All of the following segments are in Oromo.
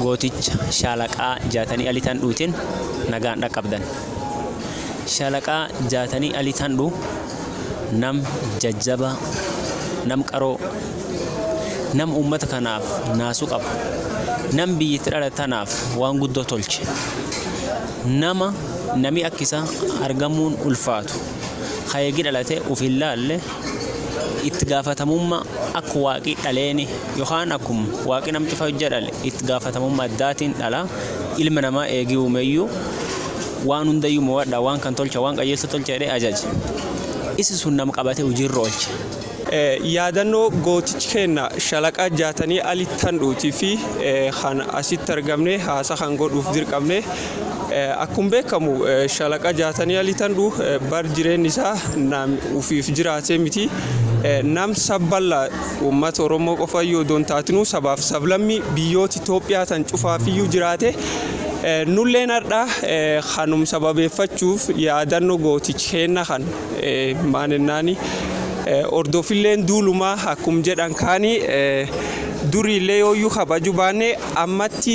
Gooticha shaalaqaa Jaatanii Ali Tandhuutiin nagaan dhaqqabdan. Shaalaqaa Jaatanii Ali Tandhuu nam jajjabaa, nam qaroo, nam uummata kanaaf naasuu qabu, nam biyya itti dhalate tanaaf waan guddoo tolche. Nama nami akka isaa argamuun ulfaatu, ka eegi dhalate ufi hinlaalle, itti gaafatamumma akka Waaqi d'aleeni, yokhaani akuma Waaqi nama ch'ufa hojja d'ale itti gaafatamumma addaatiin dhala, ilma namaa eegi uumeyu, waan hundayu mowad'a, waan kana tolcha, waan qajeelcha tolcha jed'e ajaje. Isa suni nama qabate huji ira oolche. Yaadannoo gootichi keenna Shalaqa Jaatanii Ali Tandhuutii fi kan asitti argamne haasa kan godhuuf dirqamne. Akkum beekamu Shalaqa Jaatanii Ali Tandhuu bar jireenni isaa nam ufiif jiraatee miti. Nam sab balla ummata Oromoo qofayyuu odoo hin taatinuu sabaaf sablammii biyyoota Itoophiyaa tan cufaafiyyuu jiraate. Nulleen hardha kanum sababeeffachuuf yaadanno gootichi keenna kan Maaninnaani hordofilleen duulumaa akkum jedhan kaani duriillee yooyyuu kabaju baanne ammatti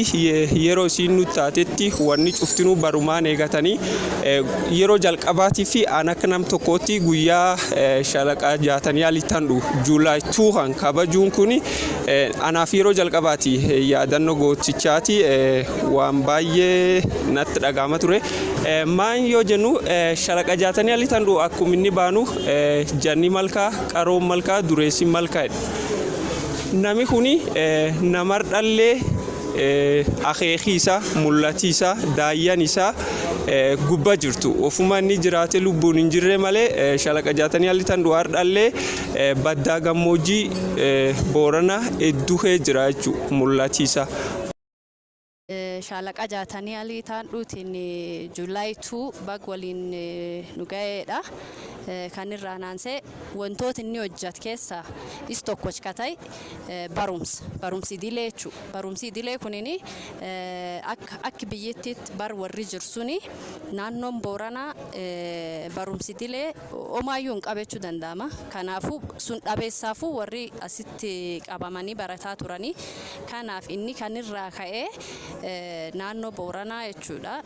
yeroo isiin nutti taatetti wanni cuftinuu barumaan eegatanii yeroo jalqabaatii fi aan akka nam tokkootti guyyaa shalaqa jaatanii aliittan dhu July 2 kan kabajuun kun anaaf yeroo jalqabaati yaadannoo gootichaati waan baay'ee natti dhagaama ture. Maan yoo jennu shalaqa jaatanii alii tan dhu'u akkum inni baanu janni malkaa qaroon malkaa dureessi malkaa nami kuni namar dhallee akeekii isaa mul'atii isaa daayyan isaa gubba jirtu ofuma inni jiraate lubbuun hin jirre malee shalaqa jaatanii alii tan dhu'u hardhallee baddaa gammoojjii boorana hedduu kee jira jechuudha mul'atii isaa. Shaalaqaa Jaatanii Alii Itaan Dhuutiin July 2 bag waliin nu gayeedha. Kan irraan aansee wantoota inni hojjat keessa is tokkoch ka ta'e barumsa. Barumsi idilee jechuu. Barumsi idilee kunini akka akki biyyittiitti bar warri jirsuni naannoon Booranaa barumsi idilee Omaayyuu hin qabechuu danda'ama. Kanaafuu sun dhabeessaafuu warri asitti qabamanii barataa turanii. Kanaaf inni kan irraa ka'e naannoo Booranaa jechuudha.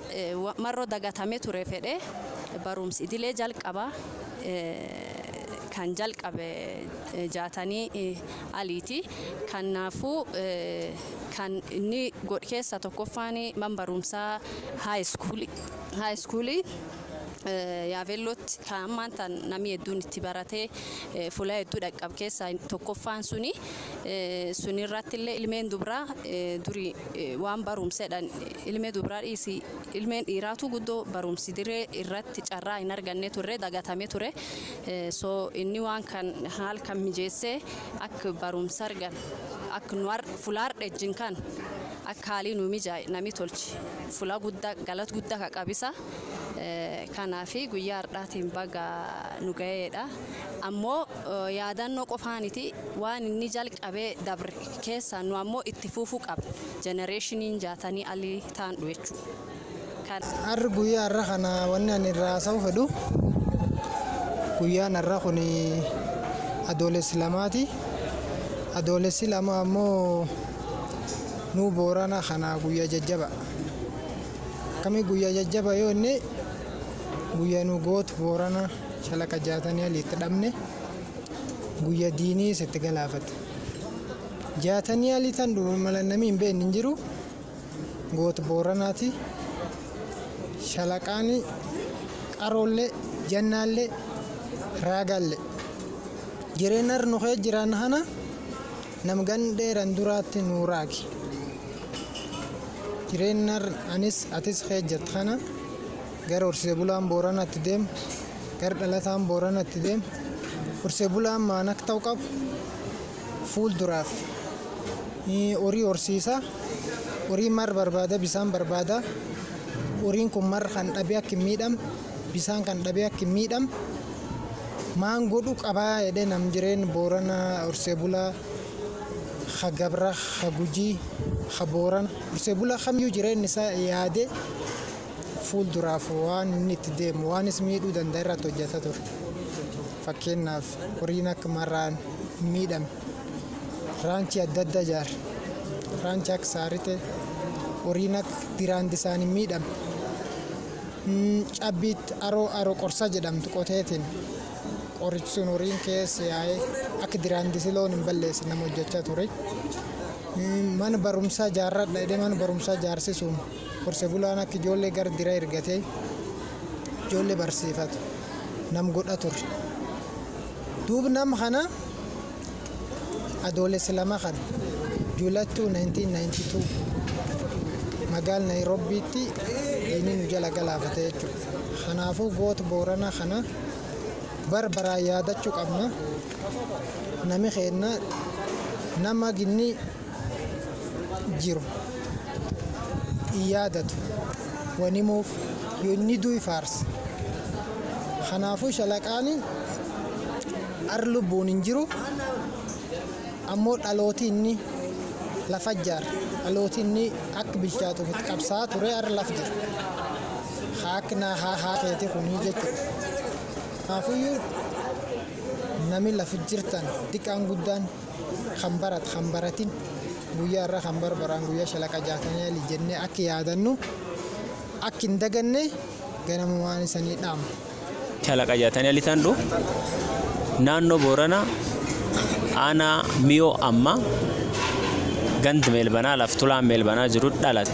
Marroo dagatamee ture fedhee barumsi idilee jalqaba kan jalqabe jaatanii aliiti. Kanaafuu kan inni godh keessa tokkoffaan man barumsaa high school high school Yaaveellootti kan ammaan tan namni hedduun itti baratee fuula hedduu dhaqqab keessaa tokkoffaan suni sunirratti illee ilmeen dubraa duri waan barumsedhan ilmee dubraa dhiisi ilmeen dhiiraatu guddoo barumsi diree irratti carraa hin arganne turre dagatame ture so inni waan kan haal kan mijeessee akka barumsa argan akka nu fulaar dhejjin kan akka haalii nu mijaa'e nami tolchi fula guddaa galat guddaa ka qabisa. kanaa fi guyyaa hardhaatiin baga nu gayeedha. Ammoo yaadannoo qofaaniti waan inni jalqabee dabre keessaa nu ammoo itti fuufuu qabna jenereeshiniin jaatanii alii taandhu jechuu. Kan. Har'a guyyaa har'a kana wanni ani irraa haasa'uu fedhu guyyaan har'a kun adoolessi lamaati. Adoolessi lama ammoo nuu boorana kana guyyaa jajjaba. Akkamii guyyaa jajjaba yoo inni guyyaa nu gootu boorana shalaqa jaatanii ali itti dhabne guyya diinii sitti galaafate. Jaatanii ali tan dhume mala namii hin beekne hin jiru gootu booranaati shalaqaani qaroollee jannaallee raagaallee jireennar nu kee jiraan hana. Nam gan dheeran duraatti nuu raagi. Jireennar anis atis kee jett kana gar horsise bulaan Boorana itti deem gar dhalataan Boorana itti deem horsise bulaan maan ak ta'u qabu fuul duraaf horii horsiisa horii mar barbaada bisaan barbaada horiin kun mar kan dhabe ak hin miidhamn Bisaan kan dhabee akk hin miidham maan godhu qaba jedhe nam jireen boorana horsee bulaa ha gabra ha gujii ha boorana horsee bulaa kamyuu jireen isaa yaade fuul duraaf waan inni itti deemu waan is miidhuu danda irratti hojjata ture fakkeennaaf horiin akk marraan hin miidhame raanchii adda adda jaar raanchi akk saarite horiin akk diraandi isaan hin miidhame Cabbiit aroo aro qorsa jedhamtu qoteetiin qorichi sun horiin keessa yaa'ee akka diraandisi loon hin balleessin nama hojjechaa ture. Mana barumsaa jaarradha jedhee mana barumsaa jaarsisuun horse bulaan akka ijoollee gara dira ergatee ijoollee barsiifatu nam godha ture. Duub nam kana Adoolessa 2 kan Juulattuu 1992 magaal Nayirobbiitti diinni nu jala galaafate jechuudha. Kanaafuu goota Boorana kana bar baraan yaadachuu qabna. Nami keenna nama ginni. jiru hin yaadatu wan himuuf yoo inni du'e faarsa kanaafuu shalaqaani ar lubbuun hin jiru ammoo dhalooti inni lafa jaar dhalooti inni akka bilchaatuuf itti qabsaa ture ar laf jira haa akka naa haa haa keeti kunii jechuudha kanaafuyyuu nami lafa jirtan diqaan guddaan kan barat kan baratin guyyaa irra kan barbaraan guyyaa shalaqa jaatanii ali jennee akki yaadannu akki hin daganne ganamumaan isanii dhaama. Shalaqa jaatanii ali tandhu naannoo Boorana aanaa miyoo amma gand meelbanaa laf tulaan meelbanaa jiru dhalate.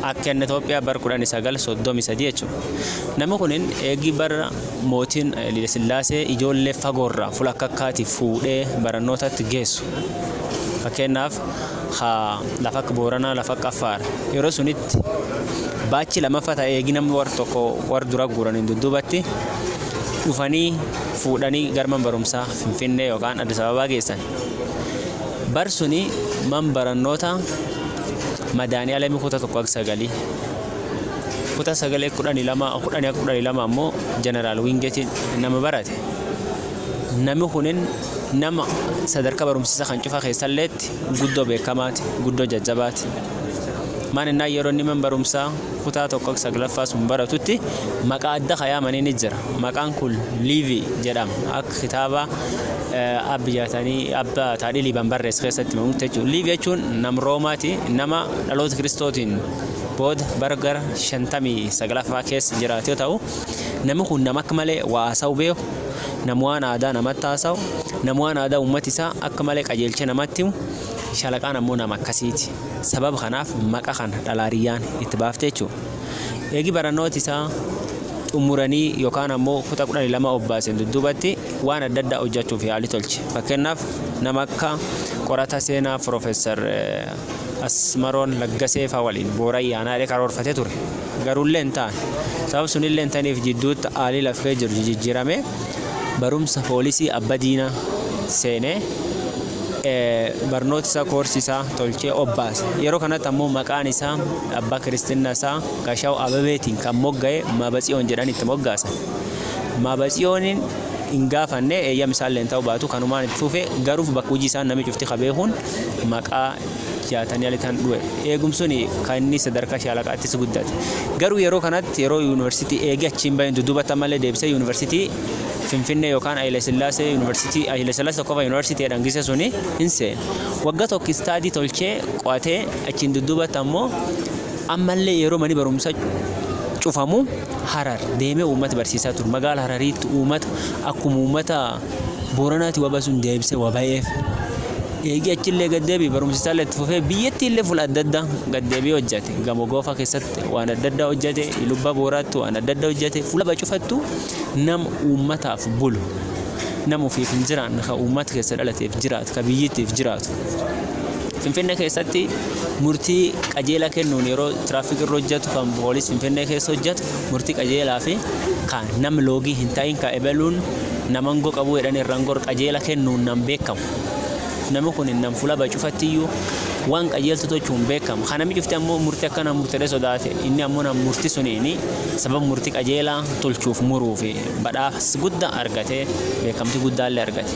Akka inni Itoophiyaa bar 1933 jechuudha. Namni kun eegii bara Mootiin Haylilesillaasee ijoollee fagoorraa, fula akka akkaatii fuudhee barannootatti geessu. Fakkeenyaaf ka lafa akka Booranaa, lafa akka Affaar. Yeroo sunitti baachi lamaffa ta'e eegi namni war tokko war dura guuraniin dudduubatti dhufanii fuudhanii gara man barumsaa Finfinnee yookaan Addis Ababaa geessan. Bar suni man barannoota Madaanii Alamii kutaa tokko akka sagalii. kutaa sagalee kudhanii lama kudhanii akka kudhanii lama ammoo jeneraal wiingetiin nama barate nami kunin nama sadarkaa barumsiisa kan cufa keessalleetti guddoo beekamaati guddoo jajjabaati maan innaa yeroo inni man barumsaa kutaa tokko saglaffaa sun baratutti maqaa adda kayaamanii ni jira maqaan kun liivii jedhama akka kitaaba abbi jaatanii abba taadhii liiban barreessa keessatti mamutti jechuun liivii jechuun nam roomaati nama dhaloota kiristootiin booda bara gara 59ffaa keessa jiraate yoo ta'u, namni kun nama akka malee waa haasa'uu beeku, nama waan aadaa namatti haasa'u, nama waan aadaa uummata isaa akka malee qajeelchee namatti himu, Shalaqaan ammoo nama akkasiiti. Sababa kanaaf maqaa kana Dhalaariyyaan itti baafte jechuudha. Eegi barannooti isaa xumuranii yookaan ammoo kutaa 12 obbaaseen dudduubatti waan adda addaa hojjechuuf yaalii tolche. Fakkeenyaaf nama akka qorata seenaa Piroofeesar Asmaroon Laggasee faa waliin Booran yaanaa jedhee karoorfatee ture. Garuullee hin taane. Sabab sunillee hin taniif jidduutti haalii laf kee jiru jijijjiramee barumsa poolisii abba diinaa seenee barnoota isaa koorsii isaa tolchee obbaase. Yeroo kanatti ammoo maqaan isaa abbaa kiristinnaa isaa Gashaw Abebeetiin kan mogga'e Maabatsiyoon jedhanii itti moggaasan. Maabatsiyooniin hin gaafanne eeyyam isaallee hin ta'uu baatu kanumaan itti fufe garuu bakka hojii isaan namni cufti ka beekuun maqaa jaatanii alitaan dhuwe. Eegumsuni kan inni sadarkaa shaalaqaattis guddate. Garuu yeroo kanatti yeroo yuunivarsiitii eegee achiin bahin dudubata malee deebisee yuunivarsiitii Finfinnee yookaan Hayila Sillaasee yuunivarsiitii Hayila Sillaasee tokkofa yuunivarsiitii jedhan gisa suni hin seene. Wagga tokko istaadii tolchee qo'atee achiin dudubata ammoo ammallee yeroo mani barumsa cufamu Harar deemee uummata barsiisaa ture. Magaala Harariitti uummata akkuma uummata Booranati waba sun deebise wabayeef. Eegii achillee gad deebi'e barumsi isaallee itti fufee biyyattiillee fuula adda addaa gad deebi'ee hojjate. Gamoo Goofaa keessatti waan adda addaa hojjate, Ilubba Booraatti waan adda addaa hojjate, fuula bacufattu nama uummataaf bulu. Nama ofiif hin jiraanne kan uummata keessa dhalateef jiraatu, kan biyyittiif jiraatu. Finfinnee keessatti murtii qajeelaa kennuun yeroo tiraafikii irra hojjatu kan poolis Finfinnee keessa hojjatu murtii qajeelaa fi ka nam loogii hin ta'in ka ebeluun nama angoo qabuu jedhanii irra angor qajeela kennuunnan beekamu. Nami kun nam fula baye cufattiyyuu waan qajeeltu tochuun beekamu. Ka nami cufti ammoo murtii akkanaa murtedhee sodaate inni ammoo nam murti suniin sababa murtii qajeelaa tolchuuf muruuf badhaas gudda argatee beekamtii guddaallee argate.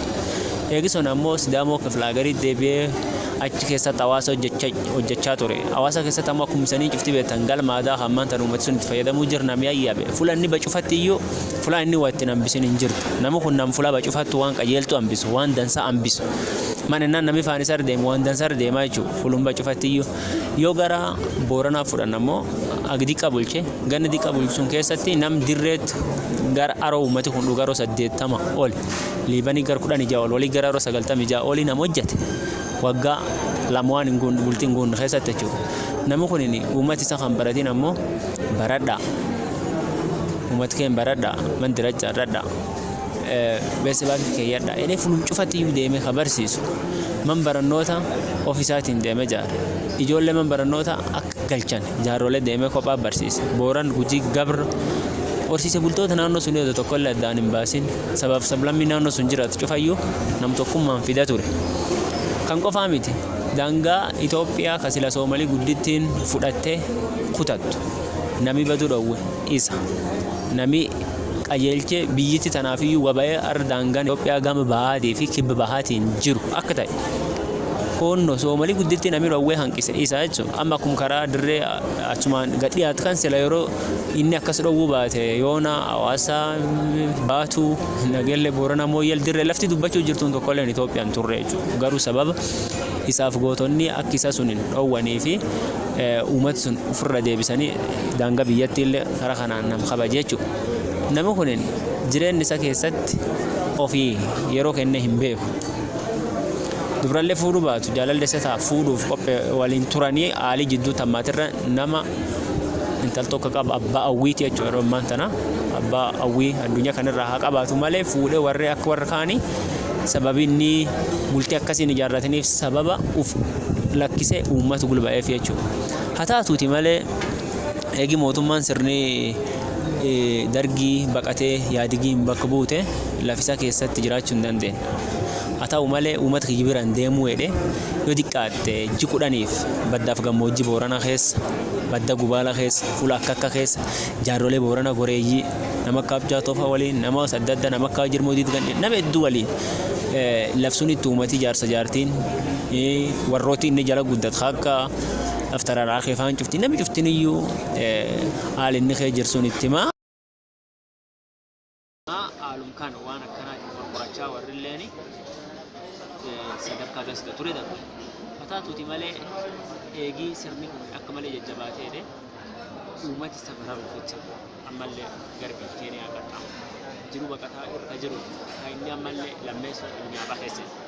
Eegi sun ammoo Sidaamoo kiflaagariit deebi'ee. achi keessatti hawaasa hojjechaa ture. Hawaasa keessatti ammoo akkuma isanii cufti beektan galma aadaa kan maanta nu ummati sun itti fayyadamuu jira namni ayyabe. Fula inni bacufatti iyyuu fula inni waa ittiin hambisin hin jirtu. Namni kun nam fula bacufattu waan qajeeltu hambisu waan dansaa hambisu. Man innaan namni faan isar deemu waan dansar deemaa jechuudha. Fulum bacufatti iyyuu yoo gara booranaa fudhan ammoo ag diqqa bulche ganna diqqa bulchuun keessatti nam dirreetti gara aroo ummati kun dhugaroo saddeettama oli. liibanii gar kudhan ija ol walii gara ro sagaltam ija olii nam hojjate waggaa lamuwaan hin guunne bultii hin guunne keessatti jechuudha. Namni kun uummati isa kan baratiin ammoo baradha. Uummati keen baradha man diracha irradha. Beessa baakii keeyyadha. Inni fulum cufatti iyyuu deemee kan barsiisu man barannoota ofisaatiin deemee jaara. Ijoollee man barannoota akka galchan. Jaarrolee deemee kophaa barsiise. Booran, Gujii, Gabr. Horsiise bultoota naannoo sunii odo tokko illee addaan hin baasin sabaaf sablammii naannoo sun jiraatu cufayyuu namtokkummaan fida ture. Kan qofaa miti daangaa Itoophiyaa ka sila Soomalii guddittiin fudhattee kutattu nami baduu dhowwe isa. Nami qajeelchee biyyitti tanaafiyyuu wabayee arra daangaan Itoophiyaa gama bahaatii fi kibba bahaatiin jiru akka ta'e. Koonno Soomali guddittiin Amiru Awwee hanqise isa jechu amma akkum karaa dirree achumaan gad dhiyaat kan sila yeroo inni akkas dhowwuu baate yoona Hawaasa baatu Nagelle Boorana Mooyyal dirree lafti dubbachuu jirtuun tokkolleen Itoophiyaan turre jechu garuu sababa isaaf gootonni akki isa sun hin dhowwanii fi uumat sun ofirra deebisanii daanga biyyatti illee kara kanaan nam kabaje jechu nami kun jireenni isa keessatti ofii yeroo kenne hin beeku. Dubrallee fuudhuu baatu jaalalli isa ta'a fuudhuuf qophee waliin turanii haalii jidduutti hammaaterra nama intal tokko qaba abbaa hawwiiti jechuudha yeroo ammaan tana abbaa hawwii addunyaa kanarraa haa qabaatu malee fuudhee warri akka warra kaanii sababii inni bultii akkasiin ijaarrataniif sababa uf lakkisee uummatu gulba'eef jechuudha. Haa taatuuti malee eegi mootummaan sirni dargii baqatee yaadigiin bakka buute lafisaa keessatti jiraachuu hin dandeenye. Haa ta'u malee uummata kiyya bira hin deemuu jedhee yoo xiqqaatte ji kudhaniif baddaaf gammoojjii Booranaa keessa, badda Gubaala keessa, fuula akka akka keessa jaarrolee Boorana goreeyyii nama akka Abjaa Tofa waliin, nama adda addaa nama akka Jirmoo Diidgandhee nama hedduu waliin laf sunitti uummati jaarsa jaartiin warrooti inni jala guddatu haa akka Aftararaa keefaan cufti namni cuftin iyyuu haala inni kee jirsuun itti himaa. Haalum kana waan akkanaatiin wal qorachaa warrilleen sadarkaa gasga ture darbe. Hataatuuti malee eegii sirni kun akka malee jajjabaateedhe uummati isa bararuuf jecha ammallee garbii Keeniyaa qaxxaamure. Jiruu baqataa irra jiru kan inni ammallee lammeessoo addunyaa baheesse.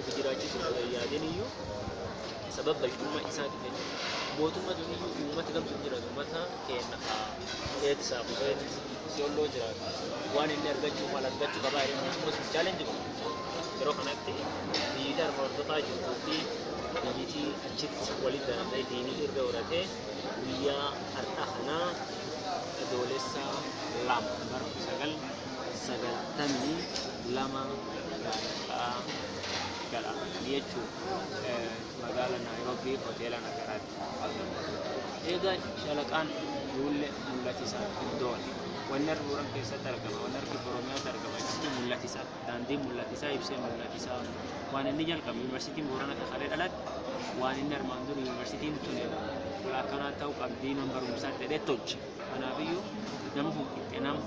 Ofi jiraachisuu osoo hin yaadin iyyuu sababa balcummaa isaatiif jechuudha. Mootummaa sun iyyuu uummata gamsuun jiraatu uummata keenya haa eet saaf eet siyolloo jiraatu waan inni argachuu maal argachuu qabaa jedhanii akkasumas hin chaalenji godhu. Yeroo kanatti biyyitii harma hordofaa jirtuu fi biyyitii achitti walitti daramee diinii irra horatee guyyaa har'aa kanaa adoolessa lama bara 19 92 Maallaqaa Galaafatanii jechuudha Magaala Naayiroobii Hoteela Nagaraatti argamutti. Eega Shalaqaan duulle mullati isaa hin doone. Wanni argi Booran keessatti argama, wanni argi Oromiyaatti argama jechuun mullati isaa. Daandiin mullati isaa ibsee mullati isaa waan inni jalqabe yuunivarsiitiin Booran akka kalee dhalate waan inni armaan duri yuunivarsiitiin tuni fuula akkanaa ta'uu qabdii man barumsaatti jedhee tolche. Kanaafiyyuu nama kun qixxe nama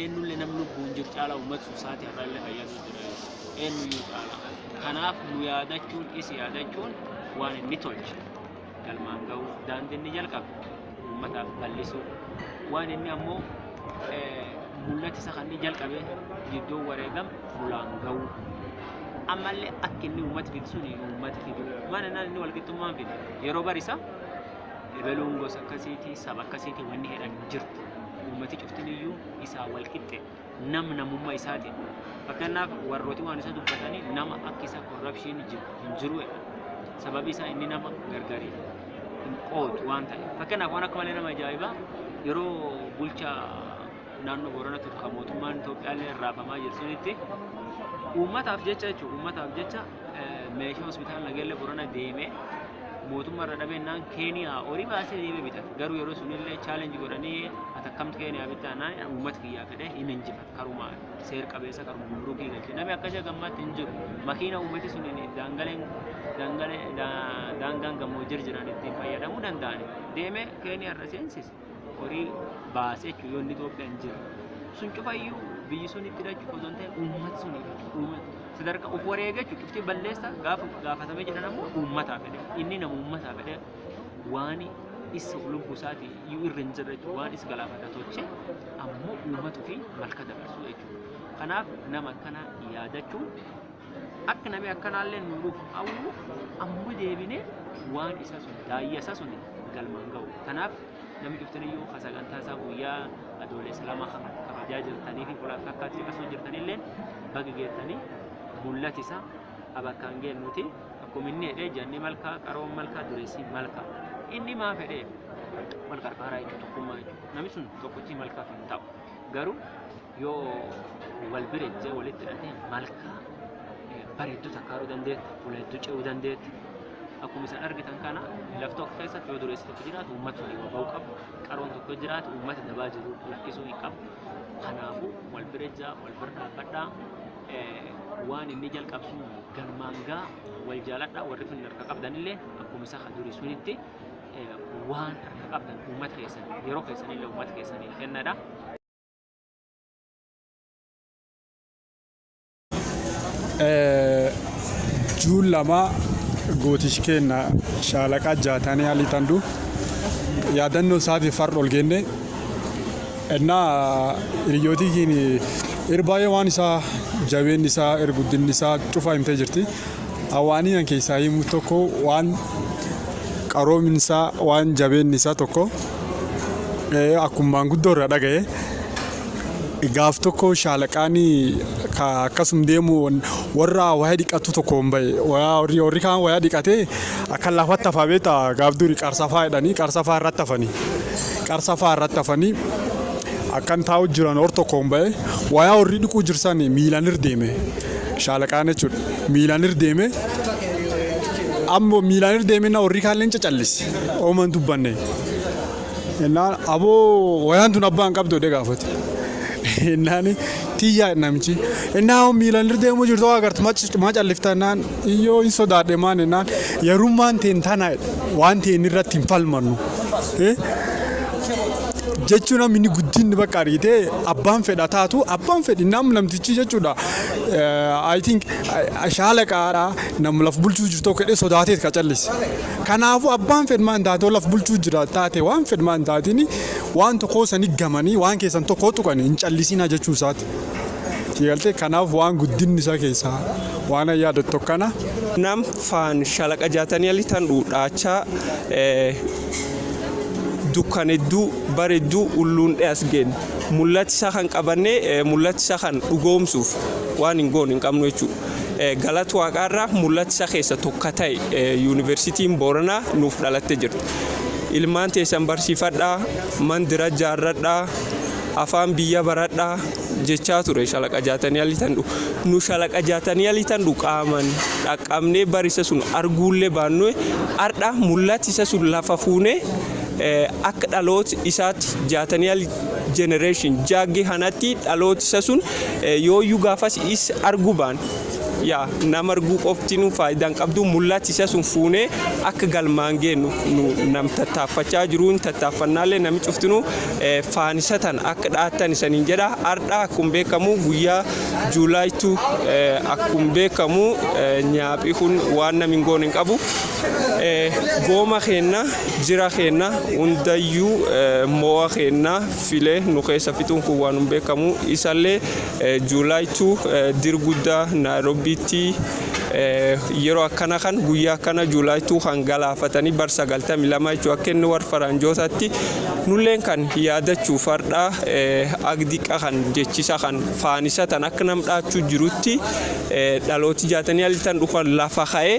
eenyullee nam lubbuun jiru caalaa uummata suusaati har'allee fayyadu jira jechuudha. Eenyuyyuu caalaa. Kanaaf nu yaadachuun is yaadachuun waan inni tolche galmaan ga'uu daandii inni jalqabe uummataaf bal'isuu waan inni ammoo eh, mul'ata isa kan inni jalqabe iddoon wareegam fulaan ga'uu ammallee akka inni uummata fidu sun uummata fidu maana naan inni walqixxummaan fide yeroo barisa ebeluun gosa akkasiiti, saba akkasiiti wanni jedhan hin jirtu. Uummati cuftiniyyuu isaa wal qixxe nam namummaa isaati. Fakkeenyaaf warrooti waan isa dubbatanii nama akka isa korrapshiin hin jiru jedha. Sababi isaa inni nama gargari hin qoodu waan ta'eef. Fakkeenyaaf waan akka malee nama ajaa'ibaa yeroo bulchaa naannoo Boorana ture kan mootummaan Itoophiyaallee raafamaa jiru sunitti uummataaf jecha jechuudha uummataaf jecha meeshaa hospitaala Nageellee Borana deemee mootummaa irra dhabennaan Keeniyaa horii baasee deemee bitata. Garuu yeroo sunillee chaalenji godhanii atakkamti Keeniyaa bittaanaan uummata kiyyaa fedhee hin injifatu. Karuma seer qabeessa karuma gumrukii galche. Namni akkasii gammaatti hin jiru. Makiina uummati sun daangaleen daangalee daangaan gammoojjir jiran ittiin fayyadamuu danda'an deemee Keeniyaa irra seensise. horii baase jechuudha yoo inni Itoophiyaa hin jiru. Sun cufayyuu biyyi sun itti hidhachuuf osoo hin ta'e uummata sun sadarkaa of wareega jechuudha. Cuftii balleessa gaafa gaafatamee jedhan ammoo uummataa fedhe. Inni nama uummataa fedhe waan isa lubbuu isaatii iyyuu irra hin jirre jechuudha. Waan isa galaafata tolche ammoo uummatu fi malka dabarsuu jechuudha. Kanaaf nama akkana yaadachuun Akka nami akkanaallee nu dhufu hawwu, amma deebinee waan isa sun, daayya isa sun galmaan gahu. Tanaaf nami cuftiniyyuu ka sagantaa isaa guyyaa adoolessa lama kana kabajaa jirtanii fi fuula akka akkaatti caqasuu jirtanilleen baga geettanii mul'ati isaa abakkaan geennuuti. Akkuma inni jedhee janni malkaa, qaroon malkaa, dureessi malkaa. Inni maa fedhee wal qarqaaraa jechuudha, tokkummaa jechuudha. Nami sun tokkochi malkaaf hin ta'u. Garuu yoo wal bira ejjee walitti hidhatee malkaa eh, bareedduu takkaaruu dandeetti, fuula hedduu ce'uu dandeetti. Akkuma isin argitan kana laf tokko keessatti yoo dureessi tokko jiraatu uummata walii wal ba'uu qabu, qaroon tokko yoo jiraatu uummata dabaa jiru lakkisuu hin qabu. Kanaafuu wal bira ejjaa, wal bira dhaabbadhaa. Eh, Waan inni jalqabu sun galmaan gaa wal jaaladhaa warri finna harka qabdanillee akkuma isa ka durii sunitti waan harka qabdan uummata keessan yeroo keessan illee uummata keessaniif kennadha. Juun lama gootichi keenya shaalaqaa jaatanii alii tanduu yaadannoo isaatiif har'a ol geenne ennaa hiriyyootii keenya irbaayee waan isaa jabeenni isaa erguddinni isaa cufaa himtee jirti Waanii an keessaa himu tokko waan qaroomin isaa waan jabeenni isaa tokko akkuma maanguddoo irraa dhagaye gaaf tokko shaalaqaan akkasum deemu warra waya dhiqatu tokkoon bahe warri kaan waya dhiqatee akka lafatti hafaa beekta gaaf duri qarsafaa jedhanii qarsafaa irratti hafanii qarsafaa irratti hafanii akkan taa'u jiran hor tokkoon bahe waya warri dhiquu jirsan miilan irra deeme. Shaalaqaan jechuudha. Miilaan irra deemee ammoo miilaan irra deemee na warri kaalleen cacallise. Ooma hin dubbanne. Innaan aboo wayaan tun abbaan qabdu jedhee gaafate. Innaan tiyyaa namichi. Innaan hoo miilaan irra deemuu jirtu hoo agartu maa callifta innaan iyyoo hin sodaadhe maan innaan yarummaan teen tana waan teen irratti hin falmannu. Eh? jechuun namni guddinni bakka argitee abbaan fedha taatu abbaan fedhi nam namtichi jechuudha I think shaalaqaadha nam laf bulchuu jirtu tokko jedhee sodaateet ka callise. Kanaafuu abbaan fedhmaa hin taatee laf bulchuu jira taate waan fedhmaa hin taatiin waan tokkoo sanii gamanii waan keessan tokkoo tuqanii hin callisinaa jechuu isaati. Tigaltee kanaaf waan guddinni isaa keessaa waan an yaadatu tokkana. Nam faan shalaqa jaatanii ali tan dhuudhaachaa dukkan hedduu baredduu ulluun dheas geenna. Mul'ati isaa kan qabannee mul'ati isaa kan dhugoomsuuf waan hin goone hin qabnu jechuu. Galat waaqaa irra mul'ati isaa keessa tokka ta'e yuuniversitiin Booranaa nuuf dhalatte jirti. Ilmaan teessan barsiifadhaa, mandira jaarradhaa, afaan biyya baradhaa jechaa ture shalaqa jaatanii alii tandhu. Nu shalaqa jaatanii alii tandhu qaaman dhaqqabnee barisa sun arguullee baannue har'a mul'ati isa sun lafa fuunee akka dhaloot isaatti jaatanial generation jaagge hanatti dhaloot isa sun yooyyuu gaafas is argu baan yaa nama arguu qofti nu faayidaan qabdu mul'ati isa sun fuunee akka galmaan geennu nu nam tattaaffachaa jiruun tattaaffannaallee nami cuftinu faanisatan akka dhaattan isaniin jedha ardha akkuma beekamu guyyaa juulaaytu akkuma beekamu nyaaphi kun waan namiin goon hin qabu gooma keenna jira keenna hundayyuu mo'a keenna filee nu keessa fixuun kun waan hin beekamu isallee juulaay 2 dir guddaa naayiroobiitti yeroo akkana kan guyyaa akkana juulaay 2 kan galaafatanii bar 92 jechuun akka inni warra faranjootaatti nulleen kan yaadachuu fardhaa agdiqa kan jechisa kan faanisatan akka nam dhaachuu jirutti dhalooti jaatanii alitan dhukan lafa ka'ee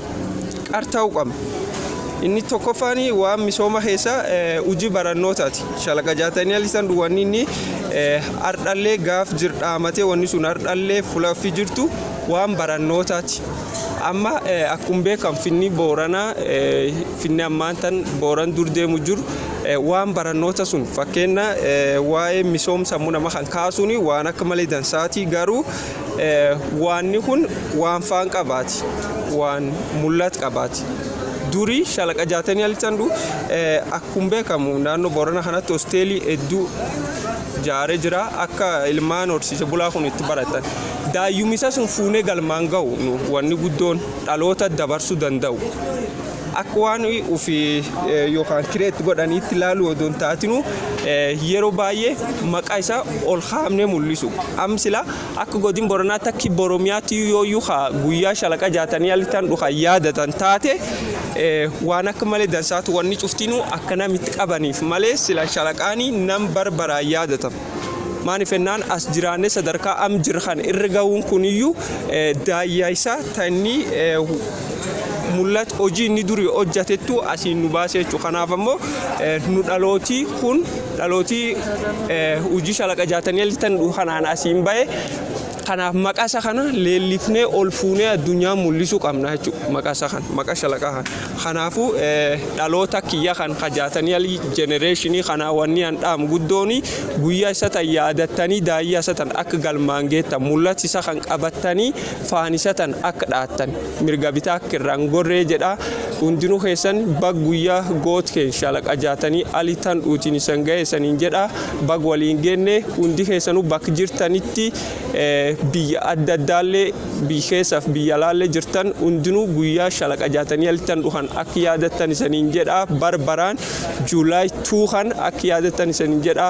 qarta'uu qabna. Inni tokkoffaan waan misooma keessa hojii barannootaati. Shalaqa jaatanii alisan wanni inni ardhallee gaaf jir dhaamatee wanni sun ardhallee fulaffi jirtu waan barannootaati. Amma akkuma beekamu finni booranaa finni ammaan tan booran dur deemu jiru waan barannoota sun fakkeenya waa'ee misoom sammuu nama kan kaasuun waan akka malee dansaati garuu Waanni kun waan faan qabaati, waan mul'at qabaati. Duri shalaqa jaatanii alichan du akkum beekamu naannoo Boorana kanatti hosteelii hedduu jaare jira akka ilmaan horsiise bulaa kun itti baratan. Daayyumisa sun fuunee galmaan ga'u nu wanni guddoon dhaloota dabarsuu danda'u. Akka waan ufi yookaan kireet godhaniitti laaluu odoo hin taatinu yeroo baay'ee maqaa isaa ol kaafnee mul'isu. Am sila akka godin Boranaatti akki Boromiyaatti yooyyuu ka guyyaa shalaqa jaatanii alittan dhukan yaadatan taate waan akka malee dansaatu wanni cuftinuu akka nam itti qabaniif malee sila shalaqaanii nam barbaraan yaadatan. Maaniif ennaan as jiraannee sadarkaa am jirra kan irra gahuun kuniyyuu daayyaa isaa tanni mul'at hojii inni durii hojjatettu asiin nu baasee jechuudha. Kanaaf ammoo nu dhalootii kun dhalootii hojii shalaqa jaatanii alii tan kanaan asiin bahe kanaaf maqasa kana leellifnee ol fuunee addunyaa mul'isuu qabna jechuudha. Maqasa kana maqa shalaqaa kana. Kanaafu dhaloota kiyya kan ka jaatanial generation kanaa wanni an dhaamu guddooni guyya isa tan yaadattanii daayya isa tan akka galmaan geettan mullat isa kan qabattanii faan isa tan akka dhaattan mirga bitaa akka irraa hin gorree jedha hundinu keessan bag guyya goot keen shalaqa jaatanii ali tan dhuutiin isan ga'e isaniin jedha bag waliin geenne hundi keessanu bak jirtanitti biyya adda addaallee biyya keessaaf biyya alaallee jirtan hundinuu guyyaa shalaqa jaatanii alittan dhuhan akka yaadattan isaniin jedha bara baraan juulaay tuu kan akka yaadattan isaniin jedha.